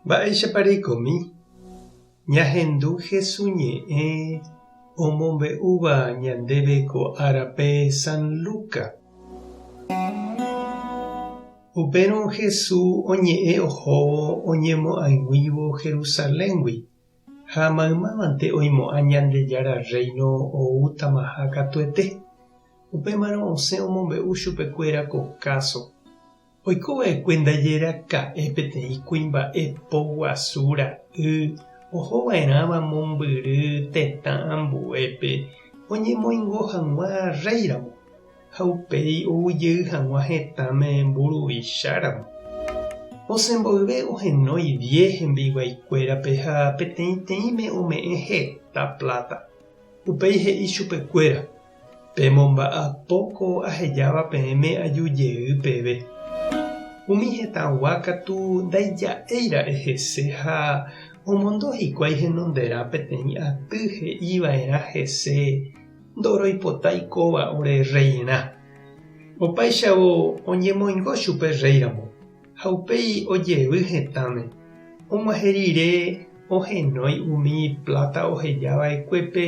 Mba'éichapa reikomi ñahendu Jesús ñe'ẽ omombe'úva ñandéve ko árape San Lucas? Upérõ Jesús oñe'ẽ ohóvo oñemo'ag̃uívo Jerusaléngui, ha maymávante oimo'ã Ñandejára Rréino oútamaha katuete. Upémarõ osẽ omombe'u chupekuéra ko káso. Oiko va'ekue ndaje raka'e peteĩ kuimba'e po guasu ra'y oho va'erãva mombyry tetã ambuépe oñemoingo hag̃ua rréiramo, ha upéi ou jey hag̃ua hetãme mburuvicháramo. Osẽ mboyve ohenói diez hembiiguaikuérape ha peteĩteĩme ome'ẽ heta pláta. Upéi he'i chupekuéra, Pemomba'apo ko ahejáva peẽme aju jey peve. Umi hetãgua katu ndaija'éira'e hese ha omondo hikuái henonderã peteĩ aty he'iva'erã hese ndoroipotái kóva ore rreirã. Opáichavo oñemoingo chupe rréiramo. Ha upéi ojevy hetãme, og̃uahẽ rire ohenói umi pláta oheja va'ekuépe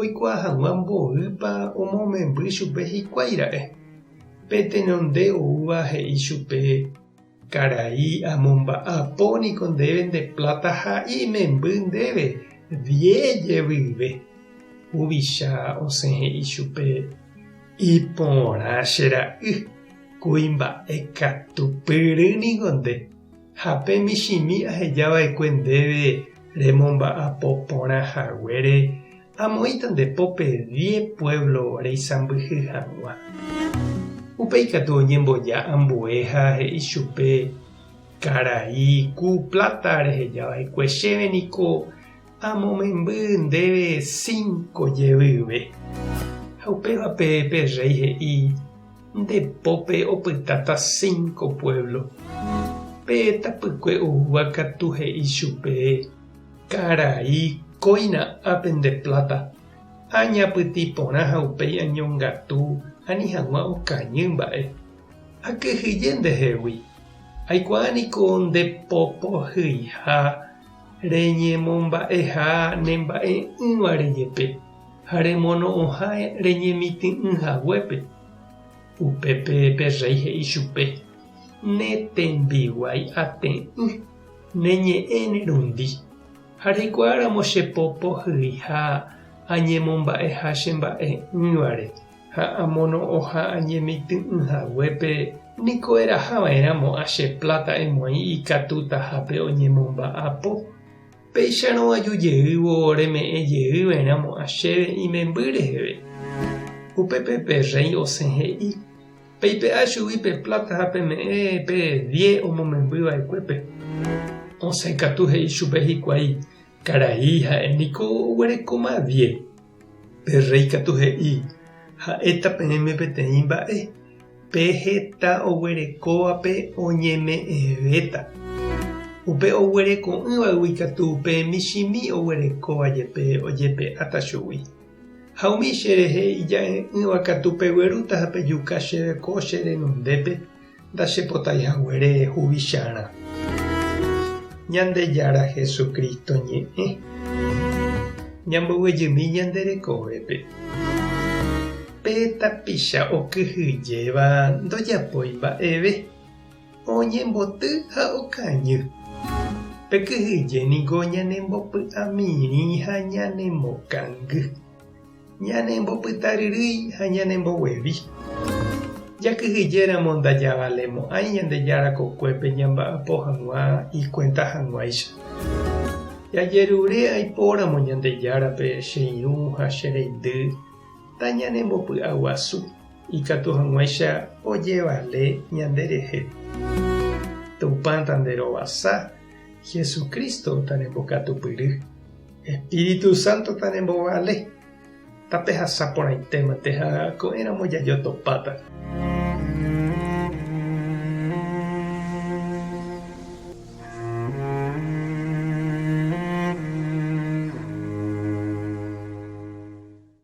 oikuaa hag̃ua mboýpa omomemby chupe hikuái ra'e. Pe tenonde oúva he'i chupe, Karai, amomba'apo niko ndéve nde pláta ha imemby ndéve diez jevyve. Huvicha osẽ he'i chupe, Iporã che ra'y, kuimba'e katu pyry ningo nde, ha pe michĩmi aheja va'ekue ndéve remomba'apo porã haguére, amoĩta nde pópe diez pueblo reisãmbyhy hag̃ua. Upéi katu oñemboja ambue ha he'i chupe, Karai, ku plata reheja va'ekue chéve niko Amomemby ndéve cinco jevýve. Ha upévape pe rréi he'i, Nde pópe opytáta cinco puévlo. Pe tapykue oúva katu he'i chupe, Karai, kóina ápe nde pláta. Añapytĩ porã ha upéi añongatu ani hag̃ua okañy mba'e. Akyhyje ndehegui. Aikuaa niko nde popohyiha. Reñemomba'eha ne mba'e'ỹvare jepe ha remono'õha reñemity'ỹ haguépe. Upépe pe rréi he'i chupe, Ne tembiguái ate'ỹ, ne ñe'ẽ ne rundi, ha reikuaáramo che po pohyiha añemomba'eha che mba'e'ỹvare. ha amono'õha añemitỹ'ỹ haguépe, niko eraha va'erãmo a che pláta emoĩ ikatutahápe oñemomba'apo. Péicharõ aju jeývo reme'ẽ jey va'erãmo a chéve imemby reheve. Upépe pe rréi osẽ he'i, Peipe'a chugui pe pláta ha peme'ẽ pe vie omomemby va'ekuépe. Osẽ katu he'i chupe hikuái, Karai, ha'e niko oguerekóma vie. Pe rréi katu he'i, Ha'éta peẽme peteĩ mba'e, pe heta oguerekóvape oñeme'ẽvéta. Upe oguereko'ỹvaygui katu pe michĩmi oguerekóva jepe ojepe'áta chugui. Ha umi cherehe ija'e'ỹva katu peguerúta ha pejuka chéve ko che renondépe, Ndachepotái haguére huvicharã. Ñandejára Jesucristo ñe'ẽ, ñambovyjymi ñande rekovépe. Pe tapicha okyhyjéva ndojapói mba'eve, oñemboty ha okañy. Pe kyhyje niko ñanembopy'amirĩ ha ñanemokangy. Ñanembopytaryrýi ha ñanemboguevi. Jakyhyjéramo ndajavalemo'ãi Ñandejára kokuépe ñamba'apo hag̃ua ikuenta hag̃uáicha. Jajerure aipóramo Ñandejárape che irũ ha che reindy ndañanembopy'aguasu, ikatu hag̃uáicha ojevale ñanderehe. Tupã tanderovasa, Jesucristo tarembokatupyry. Espíritu Santo taremovale, tapehasa porãitémante ha ko'ẽramo jajotopáta.